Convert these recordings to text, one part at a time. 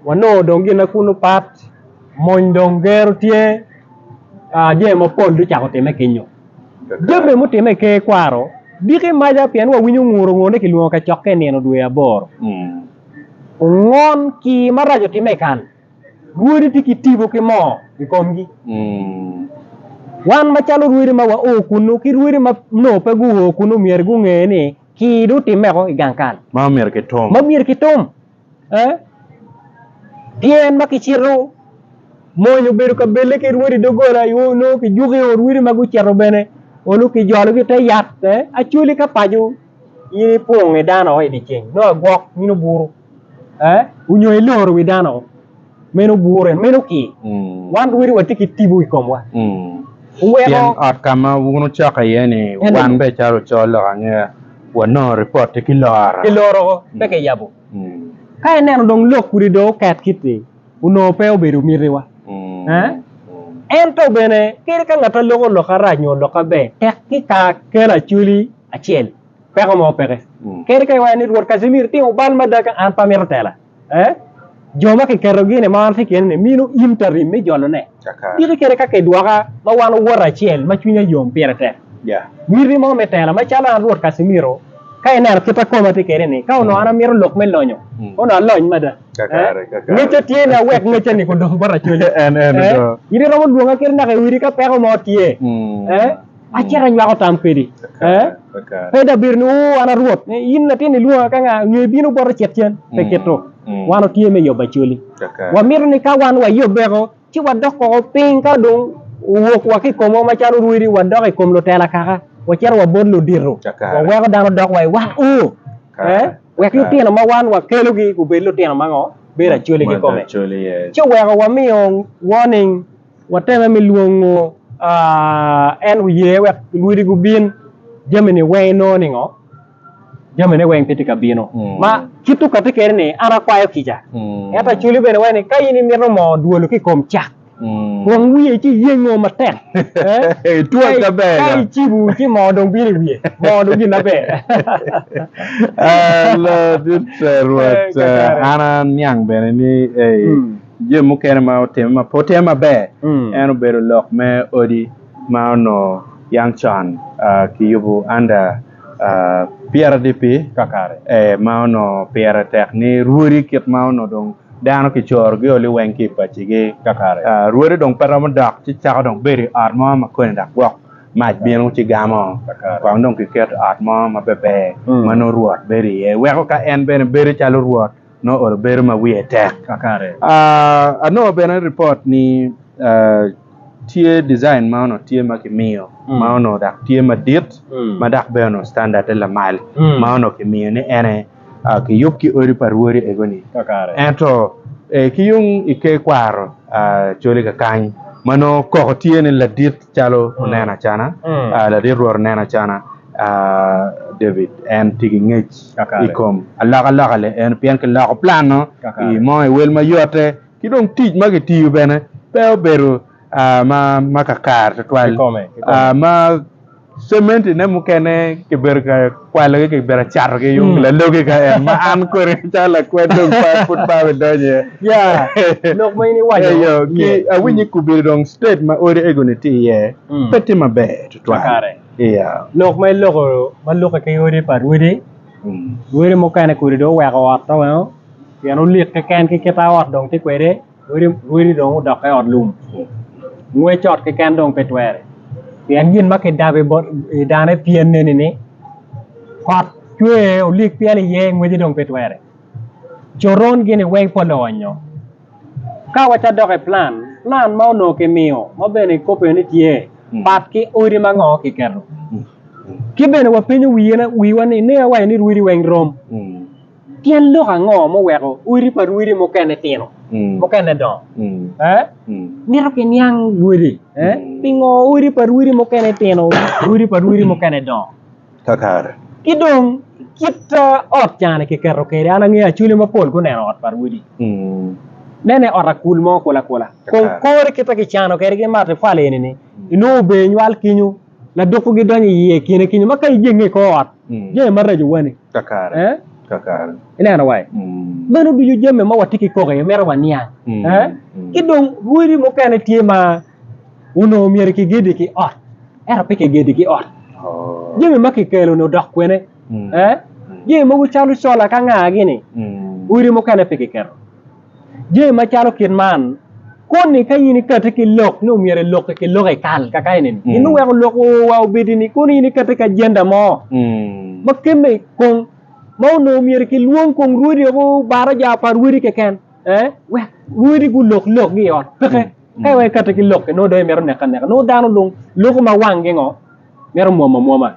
Wanongo dong gin ma kunu pat, mony dong gero tye, jami mapol dong ocako timme kinyo. Jami mutimme i ker kwaro diki maca pien wawinyo nguru nguru ni kilwongo kacokke i nino dwe aboro. Ongon ki marac otimme i kan, rwodi tye ki tipo ki moo i komgi. Wan macalo rwodi ma wao kunu ki rwodi ma nongo pe guo kunu myero gunge ni kii dong otimmeko i gang kal ma myero kitum. Tyen ma kicito mony obedo kabelle ki rwodi doggola aye onongo kijuko i ot wili ma gucito bene onongo kijologi ite yat acwali ka paco in ipwongo nge dano oo idye ceng nongo agwok in obuto onyo iloro wi dano oo. meno gure, meno ki. Wan twero watye ki tipo i komwa. Oweko. Pien ot ka ma wun wucoko iye ni, wan bene calo ocol lok angera, wanongo ripot-ti ki loro. Ki loro ko, pe kiyabo. Ka ineno dong lok kudi dong oket kit-ti, onongo pe obedo mitiwa. Ento bene, kadi ka ngat-ti loko lok arac nyo lok aber, tek ki ka kelo Acholi acel, peko mo peke. Kadi ka iwaco ni, Rwot Casimiro itimo bal mada ka an pe amito tela. ee, jo ma kiketogi ni maro tye kene ni mino interim me jolone. Diki kene ka kidwoka ma wan owote acel ma cwinya yom pire tek. Miti mo me tela macalo an Rwot Casimiro, ka ineno kit ma koma tye kede ni, ka onongo an amito lok me lonyo, kono alony mada. Ee, ngecca tye ni awek ngecca-ni kudong bot acolle. Ee, in iromo lwonga kit naka i odi ka peko mo tye. Ee. Acito anywako tam pedi, ee, pe dong abedo ni, Oo, an a Rwot, in latin ilwonga ka nga, nyo ibino bota icit cen? Pe kit-tu. Wan watye me yobo Acholi. Wamito ni ka wan wayobeko, ci wadok woko piny ka dong owok wa ki i komwa macalo rwodi, wadok i kom lutela kaka, wacito wabot ludito, waweko dano dok wa i wat u, ee, wek lutino ma wan wakelogi gubed lutino ma ngo? Bedo Acholi kikome. Ci oweko wamiyo warning. Wateme me lwongo en oye wek lwodi gubin, jamini weng inongo ningo? Jamine weng pe tye ka bino. Ma kit tuk atye kede ni an akwayo kica. Ento aculi bene waci ni ka in imito mo dwolo ki kom cak, kwong wiye ci iyengo matek. Ka icibu ci mo dong bino i wiye. Mo dong gin maber. An aniang bene ni. Jami mukene ma otime ma pe otime maber en obedo lok me odi ma onongo yam con kiyubo anda PRDP ma onongo pire tek ni rwodi kit ma onongo dong dano kicorogi o liweng ki i pacigi kakare. Rwodi dong pe romo dok ci cako dong bedo i ot mo ma koni dok gwok mac bino ci gamo kong dong kiketo ot mo ma beber ma nongo rwot bedo iye weko ka en bene bedo calo rwot. nongo ooro bedo ma wiye tek kakare. Anongo bene ripot ni tye design ma onongo tye ma kimiyo ma onongo dak tye madit ma dak bene onongo standarde lamal ma onongo kimiyo ni ene kiyub ki odi pa rwodi egoni kakare ento ki yung i ker kwaro coli kakany ma nongo koko tye ni ladit. Calo oneno acana, ladit Rwot oneno acana David en tye ki ngec i kom alokaloka lienno pien kiloko plan-nu i mo i wel ma yotte, ki dong tic ma kitiyo bene pe obedo ma kakare tutwal ma cementine mukene kibedo ka kwalogi ki bene catogi yung hmm. lalogi ka en ma an kodi calo lakwed dong pa pud pa be donyo iye ya lok ma in iwaco yo ki awinyo hmm. kubiri dong state ma odi egoni tye iye hmm. pe tye maber tutwal iya lok ma iloko ma lokke ki odi pa rwodi rwodi mukene kodi dong oweko ot ma weno pien olik keken ki kit ot dong tye kwede Rwodi dong odokke i ot lum, ngwec ot keken dong pe twere. Pien gin ma kidabo i dane pien neni ni kot cwer olik pyel iye ngweci dong pe twere. Coron gini weng pol oonyo. Ka wacito dok i plan, plan ma onongo kimiyo ma bene ikobbe ni tye pat ki odi ma ngo kiketo. Ki bene wapenyo wiwa ni ninge waco ni rwodi weng rom. Tyen lok ango muweko odi pa rwede mukene tino, mukene dongo? Mito kiniang wode. Pingo odi pa rwede mukene tino, odi pa rwede mukene dongo? Kakare. Ki dong kit ot cani kiketo kwede, an angeyo Acholi mapol guneno ot pa rwedi. Nene ot akul mo kulu akula. Kong kore kit ma kicano kwede ki matapali eni-ni, inongo ober nywal kenyo. Ladoko gidonyo i iye kine kenyo ma ka ijenge i kor ot jami maraco wani kakare kakare ineno wa meno ducu jami ma watye ki koko iye mito waniang ki dong rwodi mukene tye ma onongo myero ki gedi ki ot ento pe ki gedi ki ot jami ma ki kelo ni odok kwene jami mogo calo sola ka nga gini odi mukene pe ki keto. Jami macalo kit man koni ka in ikati ki lok ni omyero eloki ki lok ekal kaka eni ni in iweko lok oo wa obedi ni kono in ikati ki agenda mo ma kemme kong ma onongo myero ki lwong kong rwodi o baraja pa rwodi keken wek rwodi gulok lok gi i ot peke ka iweko ikati ki lok-ki nongo dong imito neke aneka nongo dano dong loko ma wangi ngo Mito mwom amwoma.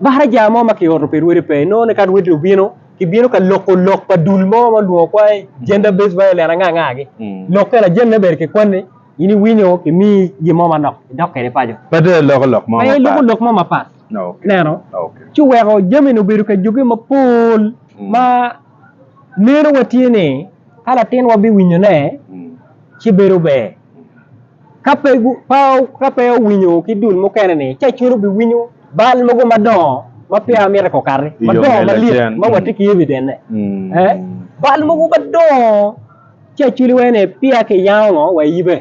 Baraja mo ma kioto pi rwodi pe, inongo ni ka rwodi obino, kibino ka loko lok pa dul mo ma olwongo kwangi Gender Based Violence anga anga gi. Lok eni ajene obedo kikwanni, in iwinyo kimiyi gin mo manok, idok kwede paco. Pe dong iloko lok mo mapat. Pe iloko lok mo mapat. Ineno? Ci oweko jami ni obedo ka joge mapol ma neno wa tye ni ka latinwa biwinyone ci bedo ber. Ka pe Pao ka pe owinyo ki dul mukene ni ca cwiny obi winyo bal mogo madongo ma peya mite ko kati madongo malit ma wa tye ki evident ne eh bal mogo madongo ci aculi wai ni peya ki yango ngo wa iyibe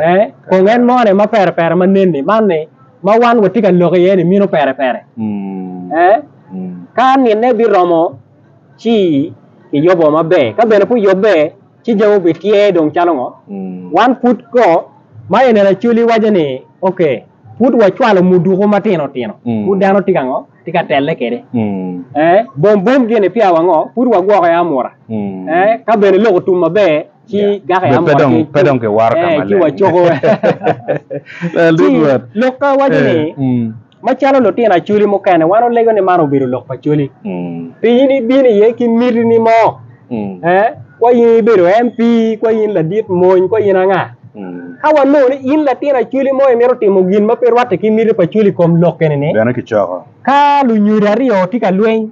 eh kong en mo ne ma pere pere ma nen ni man ni ma wan wa tye ka lok iye ni mino pere pere eh ka nine biromo ci ki yobo maber ka bene pu yobbe ci dong obitye dong calo ngo? Wan pud ko ma i neno Acholi waco ni ok pud wacwalo muduku matino tino pud dano tye ka ngo? Tye ka telle kwede ee bom bom gini peya wa ngo? Pud wagwoko aye amura ee ka bene lok otum maber ci gako aye amura ci pe dong kiwato ka maleng ci wacoko ci lok ka waco ni Macalo lutino Acholi mukene, wan olego ni man obedo lok pa Acholi. Pi in ibino iye ki mitini mo, eh, kwa in ibedo MP, kwa in ladit mony, kwa in anga. Ka wanongo ni in latin Acholi mo imito timo gin ma pe rwatte ki miti pa Acholi i kom lok eni-ni, Bene kicoko. ka lunyodo aryo tye ka lweny,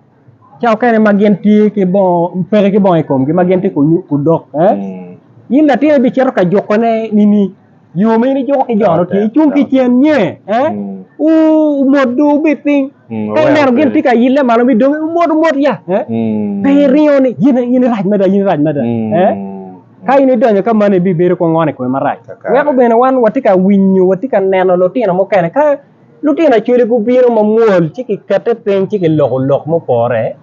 ca okene ma gin tye ki bongo peke ki bongo i komgi ma gin tye ka nyu- ku dok eh? in latin ibicito ka jukone nini yo ma in ijuko ki jo-nu tye icung ki cen nge eh? Wu- wumot du wubit piny ka ineno gin tye ka ile malo mi dongi wumot wumot ya eh? pe iringo ni in in irac mada in irac mada eh? ka in idonyo ka mano ibibedo kong on i kome marac Kakato. weko bene wan watye ka winyo watye ka neno lutino mukene ka Lutino Acholi gubino mamwol ci kikette piny ci kiloko lok mupore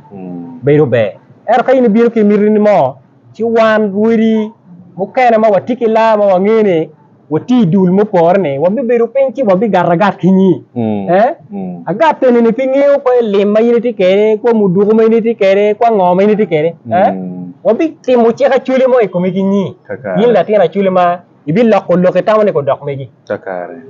bedo ber. Ento ka in ibino ki mitini mo, ci wan rwodi mukene ma watye ki laa ma wangeyo ni watye i dul mupore-ni, wabibedo piny ci wabigato agat ki nyi. Agat enini pe ngeyo kwo lim ma in itye kwede, kwo muduku ma in itye kwede, kwo ango ma in itye kwede. Wabitimo cik Acholi mo i komi ki nyi, in latin Acholi ma. ibiloko lok itamone ki odok megi.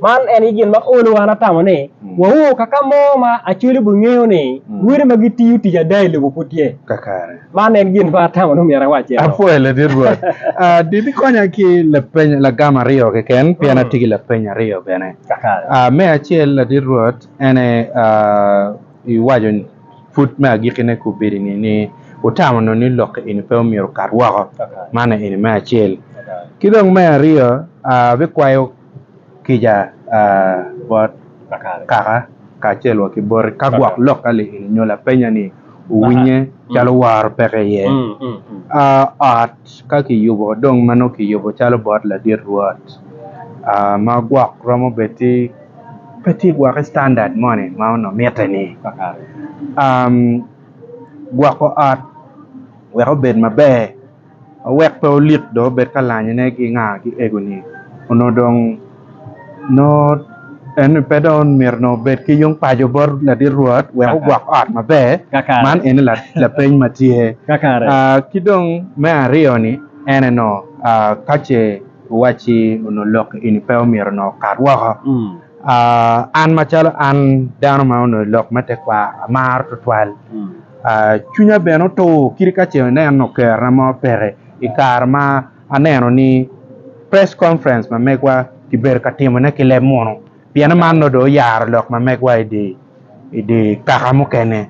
Man en aye gin ma olo wan atamo ni wawor ka ka mo ma Acholi obingeyo ni wele ma gitiyo tic ada i lobo pud tye. Man en gin ma atamo ni omyero awac eno. Apwoyo Ladit Rwot. Di bikonya ki lapeny lagam aryo keken pien atye ki lapeny aryo bene. Me acel Ladit Rwot en aye iwaco pud me agikki ne kubedi ni ni wutamo nongo ni lok eni pe omyero okat woko man eni me acel ki dong me aryo abikwayo kica bot kaka kacel wa ki boti ka gwok lok ka lok eni nyo lapenya ni owinye calo woro peke iye ot ka kiyubo dong ma nongo kiyubo calo bot ladit rwot ma gwok romo bed ki Pe tye gwokke standard moni ma onongo mitte ni kakare gwoko ot wek obed maber ma wek pe olik dong obed ka lanyone ki nga ki egoni onongo dong nongo en ni pe dong myero dong obed ki yung paco bot ladit rwot wek ogwok ot maber Kakare. man eni la- lapeny ma tye Kakare. Ah, ki dong me aryo-ni en eno ah, ka ce Owacci onongo lok eni pe omyero onongo okat woko. An macalo an dano ma onongo i lok me tekwaro amaro twatwal. Cwinya bene otur kadi ka ce aneno kerna mo peke i kare ma aneno ni press conference ma megwa kibedo ka timone ki leb munu. Pien man nongo dong oyaro lok ma megwa i dye kaka mukene.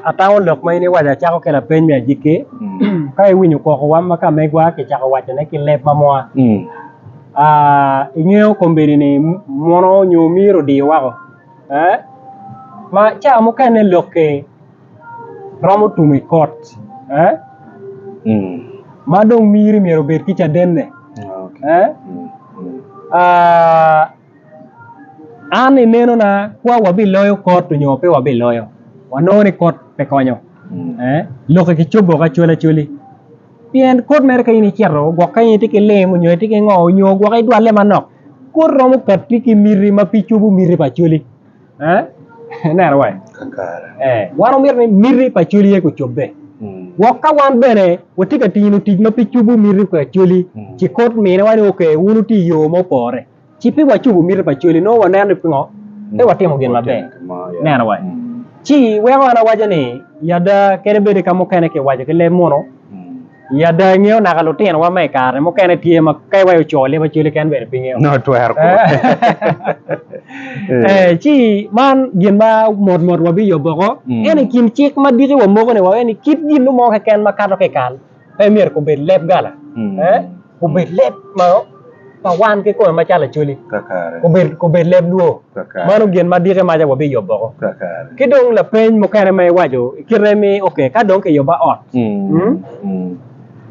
Atango lok ma in iwaco acako kelo apeny me agikki. Ka iwinyo kokowa ma ka megwa kicako wacone ki leb ma mwa, ingeyo kombeddi ni mono nyo myero odiyo woko? Ma ca mukene lok-ki. romo tum i kot ma dong miri myero obed ki cadenne. An i nenona kwa wabiloyo kot nyo pe wabiloyo wanongo ni kot pe konyo lok ki cobo woko acol acoli pien kot mere ka in icito gwok ka in itye ki lim nyo itye ki ngo nyo gwok idwalle manok kot romo katti ki miti ma pe cobo miti pa acoli. Ineno wai? Wan omyero ni miti pa cwali ye kucobbe. Wok ka wan bene watye ka tino tic ma pe cubu miti pa cwali, ci kut mine wa ni ok wun wutye i yo ma opore. Ci pe wacubu miti pa cwali nongo waneno ni pingo pe watimo gin maber. Ineno wai? Ci weko an awaco ni, i ada kadi bed ka mukene kiwaco ki leb muno, I ada ingeyo naka lutinowa ma i kare mukene tye ma ka iwaco oco leb acwali keken bene pe ngeyo. No twero kwo. Eh, ci man gin ma mot mot wabiyo boko. Mm. Ento i kin cik ma diki wa moko ni wawe ni kit gin nu mo keken ma kato ki i kal pe myero ko bed leb gala. Mm. Eh? obed leb ma pa wan kikome macalo Acholi, obed leb lwor. Mano gin ma dike maca wabiyo boko. Ki dong lapeny mukene ma iwaco i kite ni ok ka dong kiyuba ot,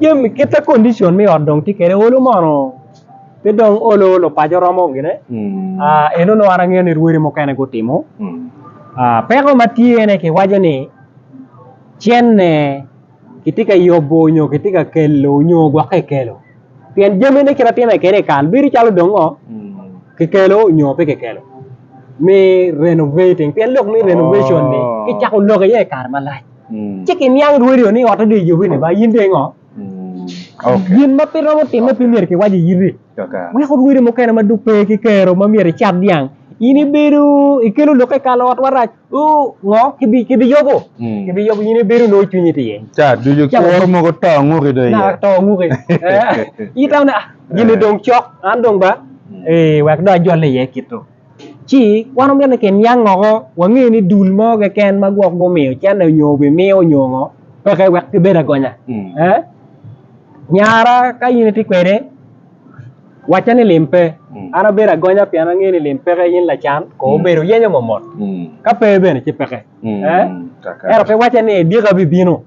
jami kite condition me ot dong tye kede olu mono pe dong olu lupaco romo gine? Eno nongo an angeyo ni rwodi mukene gutimo. Peko ma tye ene kiwaco ni cene. kitye ka yubo nyo kitye ka kelo nyo gwokke i kelo pien jamine kit ma timme kwede i kal bedo calo dong ngo kikelo nyo pe kikelo me renovating pien lok me renovation ni kicako lok iye i kare malac ci kiniang rwodi o ni otte dong eyubi ni ba in dong ingo gin ma pe romo timme pe myero kiwac i iti. Wek orwodi mukene ma dong pe ki kero ma myero icat dyang, in ibedo ikelo lok i kal ot marac ngo kibiyobo kibiyobo in ibedo onongo cwinyi tye iye ca ducu kuru mogo to anguki dong iye to anguki ita ne gini dong cok an dong ba wek dong ajole iye kito. ci wan omyero ni kiniang woko wange ni dul mo keken ma gwok gumiyo cente nyo obimiyo nyo ngo peke wek kibed agonya eeh nyara ka in itye kwede wacce ni lim pe an abedo agonya pien ange ni lim peke in lacan kong obedo yenyo momot ka pe bene ci peke eeh ento pe wacce ni dyeka bibino.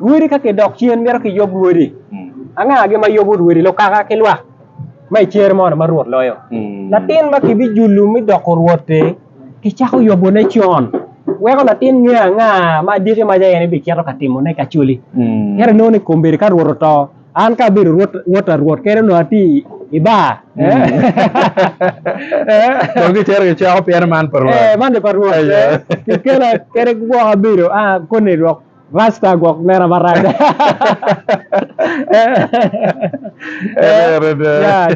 Rwodi ka kidok cen mito kiyub rwodi. Angagi ma yubo rwodi? Lukaka ki lwak ma i cer mono ma Rwot loyo. Latin ma kibijulu mi doko rwot-ti, kicako yubone con, weko latin nge anga ma adiki ma ce en ebicito ka timone ka coli. Ento inongo ni kombeddi ka Rwot oto, an ka abedo wot ta Rwot kene onongo atye i bar. Dong gicito gicweko pien man pa Rwot. Man ni pa Rwot. Kikela kene ki gwoko abedo koni dok. Rasta gwok nera marac.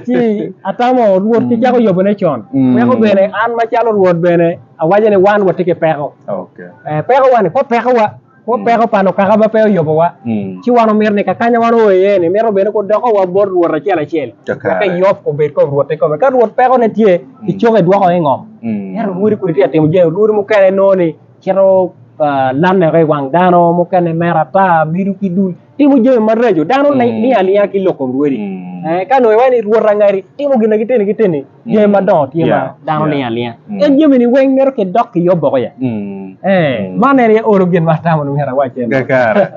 Ci atamo Rwot ki cako yobone con, weko bene an macalo Rwot bene awaco ni wan watye ki peko. Pekowa-ni, kwo pekowa, kwo peko pa lukaka ma pe oyobowa. Ci wan wamito ni kakanya wan oo iye-ni, mito bene gudokowa bot Rwot acel acel, wek eyop obed kom Rwot kikome. Ka Rwot pekone tye, kicoko edwoko i ngom. Ento lwodi kodi tye ka timo jami, lwodi mukene inongo ni, Cito laneke i wang dano mukene mere ata, mido ki dul, timo jami maraco. Dano niang aninga ki lok kom lwodi. Ka nongo iwaco ni rwot angadi, timo gin ma giteni giteni, jami madongo tye ma dano niang aninga. En jami-ni weng mito kidok ki yob boko ya. Man en aye olo gin ma atamo ni myero awac en. Kakare.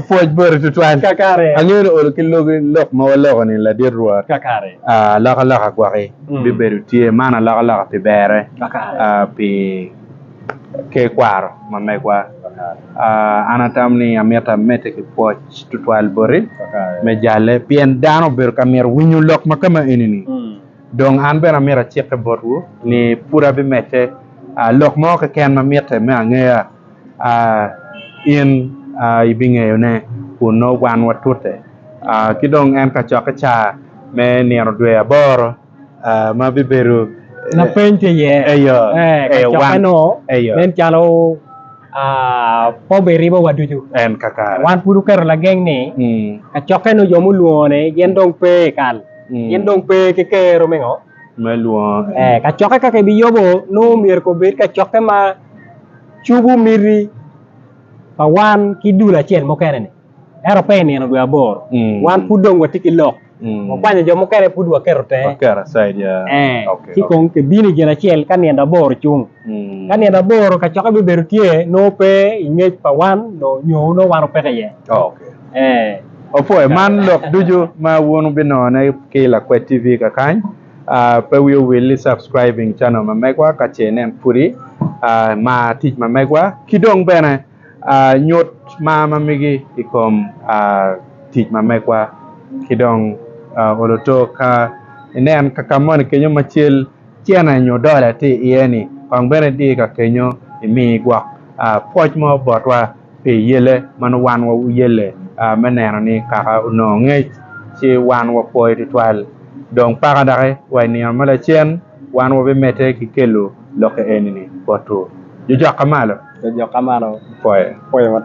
Pwoc boti tutwal. Kakare. Angeyo ni olo ki logi lok ma waloko-ni ladit Rwot. Kakare. Alokaloka gwaki bibedo tye. Man alokaloka pi berre. Kakare. Pi ki kwaro ma megwa. An atamo ni amyero amedde ki pwoc tutwal boti me jalle pien dano obedo ka myero winyo lok ma kama eni ni. Dong an bene amyero acike botwu ni pud abimedde lok mo keken ma mitte me angeya in ibingeyone kun nongo wan watute. Ki dong en kacokke caa me nino dwe aboro. ah, ma bibedo Lapeny tye iye Eyo, ee, ee, wan, kacokkeno eyo. nen calo ah, pe obiribo wa ducu. En kakare. Wan pud wuketo lageng ni Mm, kacokkeno jo mulwongone gin dong pe i kal, mm. gin dong pe ki kero me ngo? Me lwongo en. Ee, kacokke ka kibiyubo nongo myero ko obed kacokke ma cubu miti pa wan ki dul acel mukene-ni. Ento pe i nino dwe aboro, wan pud dong watye ki lok, wakwanyo jo mukene pud waketo tenge. Ci kong kibino i Ginacel ka nino aboro cung. Ka nino aboro kacokke bibedo tye, nongo pe i ngec pa wan nyo nongo wan opeke iye. Wapwoyo man lok ducu ma wun wubinongone ki i Lakwed TV kakany. Pe wiu wil ni subscribing channel ma megwa ka ce nen pudi. Mar tic ma megwa ki dong bene. Nyut mar ma migi i kom tic ma megwa ki dong olo otok. Ka inen ka ka moni kenyo ma cal cene nyo dola tye iye-ni, kong bene di ka kenyo imi gwok pwoc mo botwa pi yelle ma nongo wan wuyelle me neno ni kaka onongo ngec ci wan wapwoyo tutwal. Dong paka doki wa i nino ma lacen. Wan wabimedde ki kelo lokke eni-ni botwu. Jojok ka malo. Jojok ka malo. Pwoyo. Pwoyo matek.